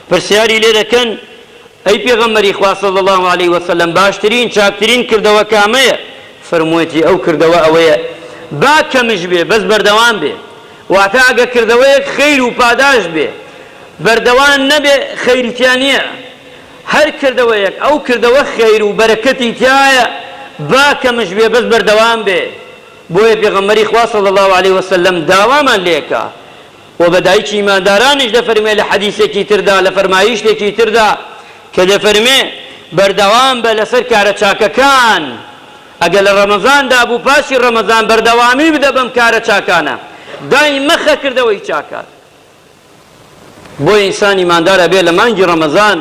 پرسیاری لێ دەکەن، ئەی پێغەمبەری خوا صلی اللە علیە وسلم باشترین، چاکترین کردەوە کامەیە؟ فەرموویەتی، ئەو کردەوە ئەوەیە با کەمش بێ بەس بەردەوام بێ، واتە ئەگەر کردەوەیەک خەیر و پاداشت بێ بەردەوان نەبێ خەیری تیا نیە، هەر کردەوەیەک ئەو کردەوە خەیر و بەرەکەتی تیایە با کەمش بێ بەس بەردەوام بێ، بۆیە پێغەمبەری خوا صلی اللە علیە وسلم داوامان لێ کا، وە بە دایکی ئیماندارانیش دەفەرموێ لە حەدیسێکی تردا لە فەرمایشتێکی تردا کە دەفەرموێ، بەردەوام بە لەسەر کارە چاکەکان، ئەگەر لە ڕەمەزاندا بوو پاشی ڕەمەزان بەردەوامی بدە بەم کارە چاکانە، دای مەخە کردەوەی چاکان. بۆیە ئینسان ئیماندار ئەبێ لە مانگی ڕەمەزان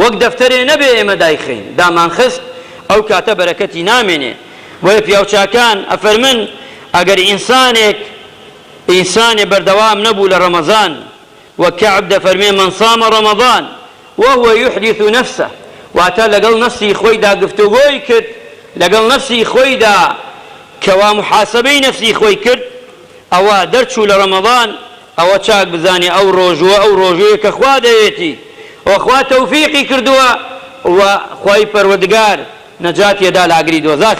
وەک دەفتەرێ نەبێ ئێمە دایخەین دامانخست ئەو کاتە بەرەکەتی نامێنێ، بۆیە پیاوچاکان ئەفەرمن ئەگەر ئینسانێک، ئینسانێ بەردەوام نەبوو لە ڕەمەزان، وەک کەعب دەفەرموێ، من صام رمضان وهو یحدث نفسه، واتە لەگەڵ نەفسی خۆیدا گفتوگۆی کرد، لەگەڵ نەفسی خۆیدا کەوا محاسەبەی نەفسی خۆی کرد، ئەوا دەرچوو لە ڕەمەزان، ئەوە چاک بزانێ ئەو ڕۆژووە ئەو ڕۆژوویە کە خوا دەوێتی و خوا تەوفیقی کردووە و خوای پەروەردگار نەجاتیەدا لە ئاگری دۆزەخ.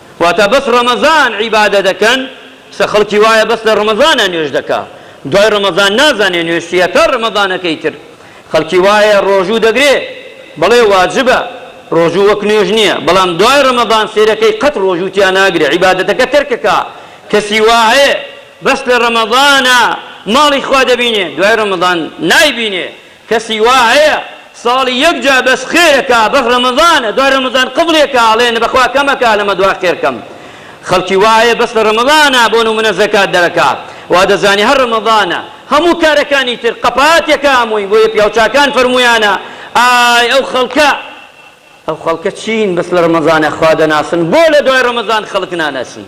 واتە بەس ڕەمەزان عیبادە دەکەن سە خەڵکی وایە بەس لە ڕەمەزانا نوێژ دەکا دوای ڕەمەزان نازانێ نوێژ چی ئەکا ڕەمەزانەکەی تر خەڵکی وایە ڕۆژوو دەگرێ بەڵێ واجبە ڕۆژوو وەک نوێژ نییە بەڵام دوای ڕەمەزان سێرەکەی قەت ڕۆژوو تیا ناگرێ عیبادەتەکە تەرکەکا کەسی وا هەیە بەس لە ڕەمەزانا ماڵی خوا دەبینێ دوای ڕەمەزان نایبینێ کەسی وا هەیە ساڵی یەک جار بەس خێرەکا بەس ڕەمەزانە دوای ڕەمەزان قفڵێکا ئەڵێ نە بەخوا کەمەکا لەمە دوا خێرکەم خەڵکی وا هەیە بەس لە ڕەمەزانا بۆ نمونە زەکات دەرەکا وا دەزانێ هەر ڕەمەزانە هەموو کارەکانی تر قەپاتێکا هەمووی بۆیە پیاوچاکان فەرموویانە ئای ئەو خەڵکە ئەو خەڵکە چین بەس لە ڕەمەزانا خوا دەناسن بۆ لە دوای ڕەمەزان خەڵک ناناسین.